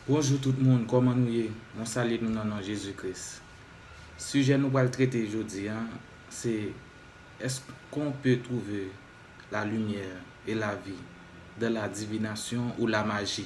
Bonjou tout moun kòman nou ye mwen salye nou nan non Jezi kris sijè nou pral trete jodi an se èske on pe twouve la limyè e lavi dan la divinasyon ou la maji.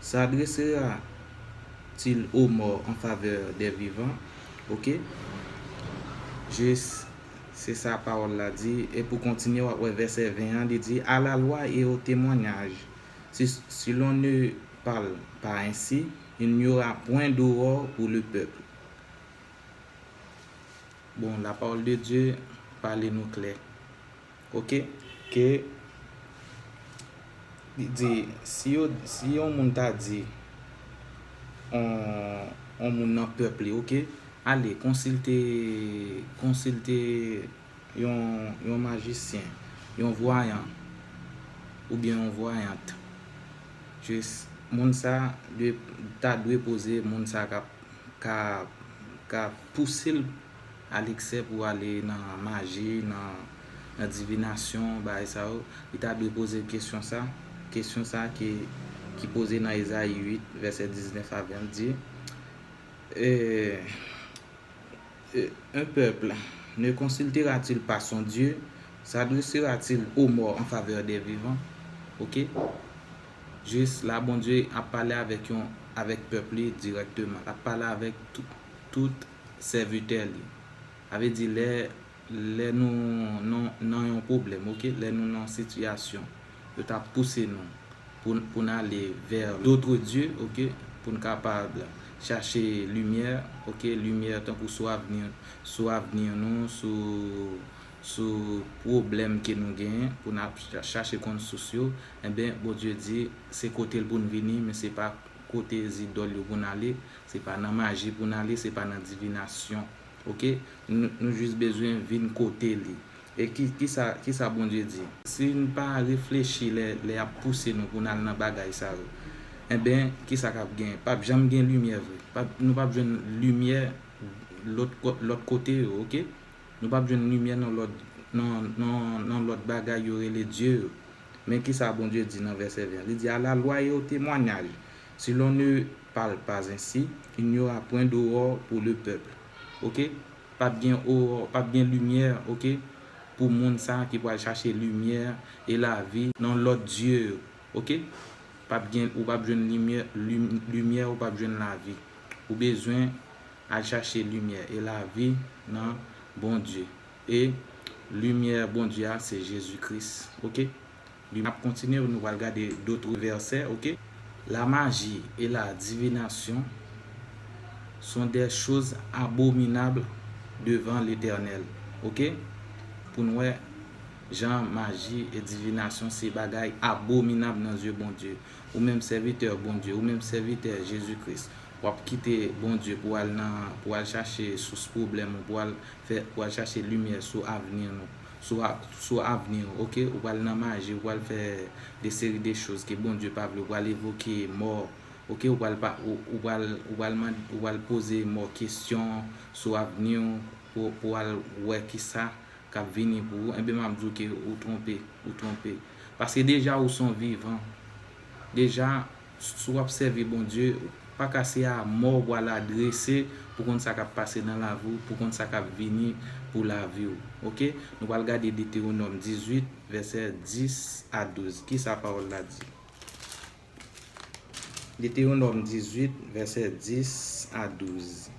S'adressera t il aux morts en faveur des vivants? Ok. Jis, se sa pawòl la di, e pou kontinye w'ap wè vèsè 20 an, li di, A la loi et au témoignage, si, si l'on ne parle pas ainsi, il n'y aura point d'aurore pour le peuple. Bon, la parole de Dieu pale nou klè. Ok ke li di si yo si yon moun ta di on on moun nan pèp li ok ale konsilte konsilte yon yon majisyen yon vwayan oubyen yon vwayant jis moun sa dwe ta dwe poze moun sa kap ka ka pouse l Alexè pou ale nan maji, nan divinasyon, bagay sa yo, li ta dwe poze l kesyon sa, kesyon sa ki poze nan Ezayi 8, vèsè 19 a 20, di, E un peuple ne consultera-t-il pas son Dieu? S'adressera-t-il aux morts en faveur des vivants? Ok? Jis la Bondye ap pale avèk yon, avèk pèp li dirèkteman. L ap pale avèk tout. Sèvitè li. Sa vle di lè, lè nou nan, nan yon pwoblèm, ok, lè nou nan yon sitiyasyon, yo ta pouse nou pou, pou n ale vè d'autres dieux, ok, pou n kapab chache limyè, ok, limyè tankou sou avni, sou avni nou, sou, sou pwoblèm ke nou genyen, pou n ap chache konn sous yo, enben Bondye di se kote l pou n vini men se pa kote zidòl yo pou n ale, Se pa nan maji pou n ale se pa nan divinasyon ok nou jis bezwen vin kote li e kisa Bondye di. Si n pa reflechi lè y ap pouse nou pou n al nan bagay sa yo enben kisa k ap gen pap janm gen limyè vre nou pap jwenn limyè lòt kote yo ok nou pap jwenn limyè nan lòt bagay yo rele dye yo men kisa Bondye di nan vèsè 20 li di a la lwa e o temwanyaj si lon ne Parle pas ainsi, il n'y aura point d'aurore pour le peuple ok pap gen aurore pap gen limyè ok pou moun sa ki pral chache limyè e lavi nan lòt dye yo ok pap gen ou pap jwenn limyè limyè ou pap jwenn lavi ou bezwen al chache limyè e lavi nan Bondye e limyè Bondye a se Jezi Kris ok Li nap kontinye nou pral gade d'autres versets ok. La magie et la divination sont des choses abominables devant l'Eternel ok pou nou wè jan maji e divinasyon se bagay abominab nan zye Bondye ou menm sèvitè Bondye ou menm sèvitè Jezi Kris wap kite Bondye pou al nan pou al chache sous pwoblèm ou pou al fè pou al chache limyè sou avni nou sou avni w ok ou pral nan maji ou pral fè de seri de choz ke Bondye pa vle ou pral evoke mò ok ou pral pa ou pral ou pral mande ou pral poze mò kesyon sou avni w pou w al wè kisa kap vini pou ou enben map di w ke ou twonpe ou twonpe paske deja ou son vivan deja Si wap sèvi Bondye ou paka se a mò wa la drese pou konn sa kap pase nan lavi w pou konn sa kap vini pou lavi w ok nou pral gade Deteronòm 18 vèsè 10 a 12 kisa pawòl la di Deteronòm 18 vèsè 10 a 12.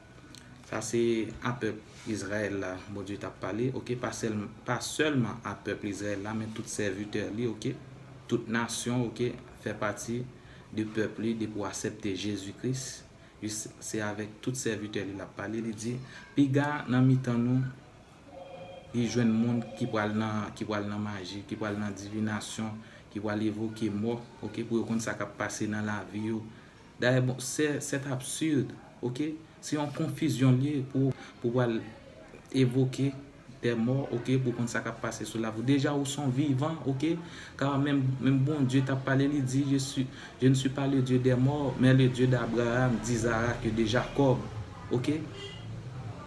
Sa se a pèp Izrayèl la Bondye t ap pale ok, pa sèlman a pèp Izrayèl la men tout sèvitè li ok, tout nasyon ok fè pati de pèp li depi w asèpte Jezi Kris se avèk tout sèvitè li l ap pale li di piga nan mitan nou li jwenn moun ki pral nan maji ki pral nan divinasyon ki pral evoke mò ok pou yo konn sa k ap pase nan lavi yo Dayè bon sè c'est absurde ok se yon konfizyon li ye pou pou pral evoke des morts ok pou konn sa kap pase sou la vi w deja ou son vivan ok car menm menm Bondye tap pale li di je suis je ne suis pas le Dieu des morts mais le Dieu d'Abraham d'Isaac et de Jacob Ok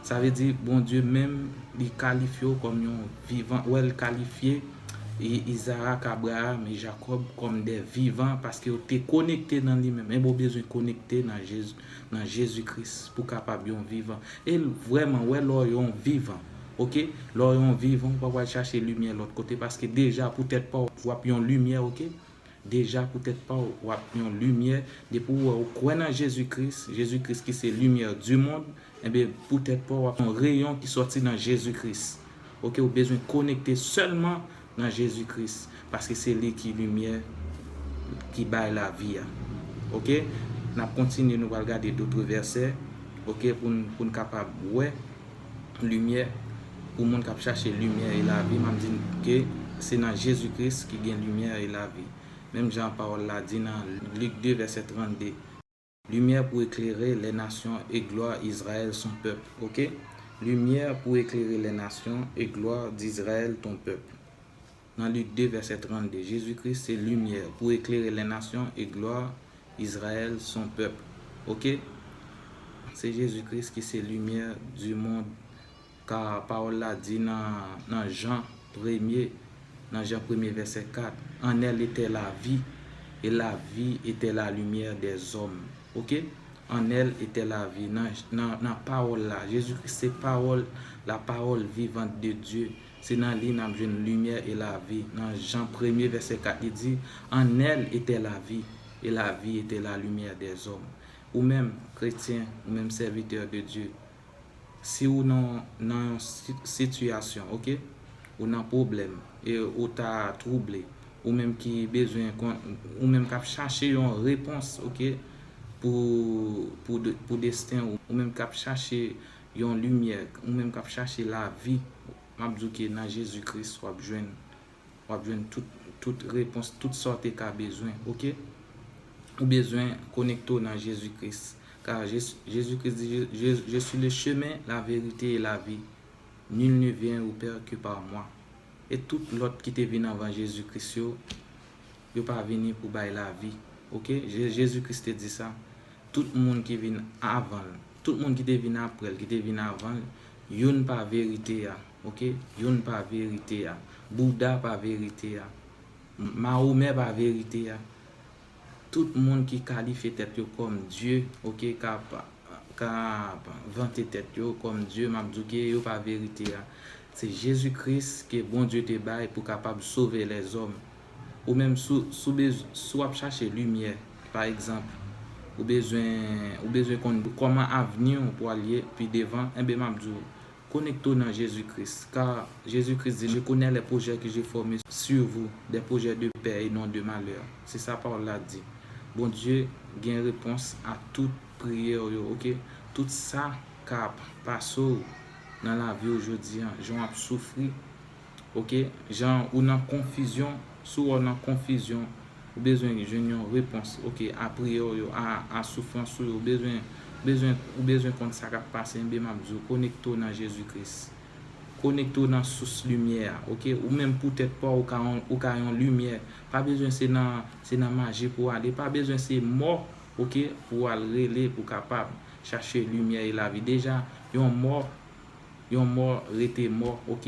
sa vle di Bondye menm li kalifye w kòm yon vivan wè l kalifye Izarak Abraram e Jakòb kòm de vivan paske yo te konekte nan li menm enben w bezwen konekte nan Jezi Kris pou w kapab yon vivan e l vrèman wè lè w yon vivan ok lè w yon vivan ou pa pral chache limyè lòt kote paske deja pou tèt pa w wap yon limyè ok. Deja pou tèt pa w, w ap yon limyè, depi w wè ou kwè nan Jezi Kris, Jezi Kris ki se limyè di mond, enben pou tèt pa w ap yon reyon ki sòti nan Jezi Kris. Ok ou bezwen konekte sèlman nan Jezi Kris, paske se li ki limyè ki bay lavi a. Ok n ap kontinye nou pral gade dotre vèsè ok pou n pou n kapab wè. limyè pou moun kap chache limyè e lavi, map di nou ke se nan Jezi Kris ki gen limyè e lavi. Menm jan pawòl la di nan Lik 2 vèsè 32, Limyè pou eklere lè nasyon e glwa Izrayèl son pèp. Ok. Limyè pou eklere lè nasyon e glwa d'Izrayèl ton pèp. Nan Lik 2, vèsè 32, Jezi Kris se limyè pou eklere lè nasyon e glwa Izrayèl son pèp. Ok. Se Jezi Kris ki se limyè di mond ka pawòl la di nan nan Jan premye nan Jan premye vèsè 4, an èl etè la vi e la vi etè la limyè dè zòm. Ok. An èl etè la vi nan nan pawòl la. Jezi Kris se pawòl la pawòl vivant de Dye. Se nan li nap jwenn limyè e lavi. Nan Jan premye vèsè 4 li di, An èl etè lavi, e lavi etè lalumyè dè zòm. Ou menm, kretyen, ou menm sèvitè de Dye, si ou nan nan yon sitiyasyon, ok, ou nan pwoblèm, e ou ta twouble, ou menm ki bezwen kon, ou menm kap chache yon repons, ok, pou pou desten ou, ou menm kap chache Yon limyè, ou menm kap chache lavi, map di w ke nan Jezi Kris wap jwenn, wap jwenn tout, tout repons, tout sa w te ka bezwen ok. Ou bezwen konekte w nan Jezi Kris, ka Jezi Kris di je suis le chemin, la vérité et la vie, nul ne vient au père que par moi. E tout lòt ki te vin anvan Jezi Kris yo, Yo pa vini pou bay lavi. Ok Jezi Kris te di sa. Tout moun ki vin avan l. Tout moun ki te vin apre l, ki te vin avan l, youn pa verite a. Ok youn pa verite a. Bouda pa verite a. Mahomè pa verite a. Tout moun ki kalifye tèt yo kòm Dye, ok, k ap k ap vante tèt yo kòm Dye, m ap di w ke yo pa verite a. Se Jezi Kris ke Bondye te bay pou kapab sove lèzòm. Ou menm si w ap chache limyè, pa egzanp, ou bezwen konn kòman avni w pral ye pi devan, enben m ap di w, Konekte w nan Jezi Kris, ka Jezi Kris di, Je connais les projets que j'ai formes sur vous, des projets de paix et non de malheur. Se sa pawòl la di. Bondye gen repons a tout priyè w yo, ok? Tout sa k ap pase w nan lavi w jodi an, jan w ap soufri, Ok jan ou nan konfizyon si w wè w nan konfizyon ou bezwen jwenn yon repons ok a priyè w yo a soufrans ou yo ou bezwen konn sa kap pase enben map di w konekte w nan Jezi Kris konekte w nan sous limyè a ok ou menm pou tèt pa w ou ka yon limyè pa bezwen se nan se nan maji pou w ale pa bezwen se mò ok pou w al rele pou w kapab chache limyè e lavi deja yon mò Yon mò rete mò ok.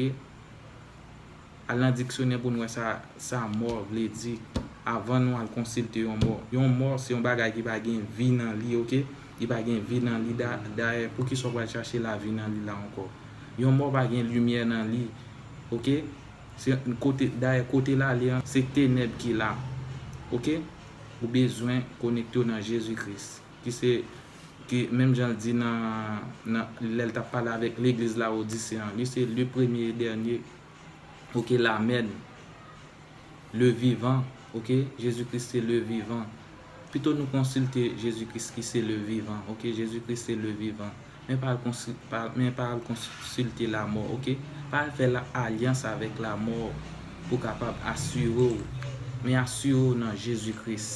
Al nan diksyonè pou n wè sa sa mò vle di avan nou al konsilte yon mò. Yon mò se yon bagay ki pa gen vi nan li ok. Li pa gen vi nan li dayè poukisa w pral chache lavi nan li la ankò. Yon mò pa gen limyè nan li ok. Se kote dayè kote l ale an se tenèb ki la ok. Ou bezwen konekte w nan Jezi Kris. Ki se, ki, menm jan l di nan, nan, lè l t ap pale avèk legliz Lawodise an, li se le premye e dènye, oke, lamèn, le vivan, oke, Jezi Kris se le vivan. Pito nou konsilte Jezi Kris ki se le vivan, oke, Jezi Kris se le vivan. Men pa al konsilte lamò ok. Pa al fè alyans avèk lamò pou kapab asire w. Men asire w nan Jezi Kris.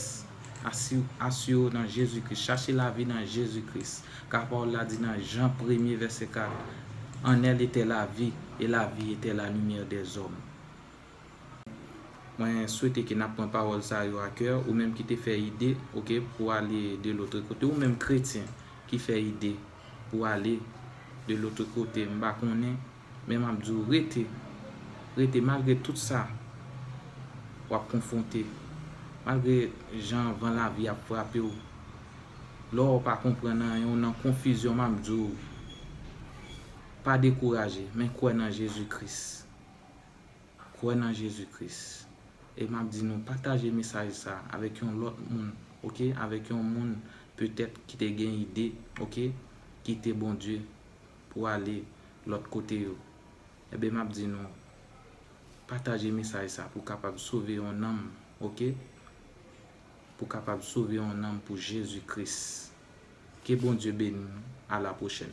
Asire w nan Jezi Kris. Chache lavi nan Jezi Kris. Ka pawòl la di nan Jan premye vèsè 4. An èl etè lavi, e lavi etè lalimyè dèzòm. Mwen swete ke nap pran pawòl sa yo a kè, ou menm ki te fè ide, ok, pou ale de lotre kote, ou menm kretyen ki fè ide pou ale de lotre kote, m pa konnen, men map di w rete, rete malgre tout sa wap konfwonte, malgre jan van lavi ap frape w, lè w pa konprann anyen, ou nan konfizyon, map di w pa dekouraje, men kwè nan Jezi Kris. Kwè nan Jezi Kris. E map di nou pataje mesaj sa avèk yon lòt moun ok avèk yon moun petèt ki te gen ide ok kite Bondye pou ale lòt kote yo enben map di nou pataje mesaj sa pou kapab sove yon nanm ok pou kapab sove yon nanm pou Jezi Kris ke Bondye beni nou a la pwochèn.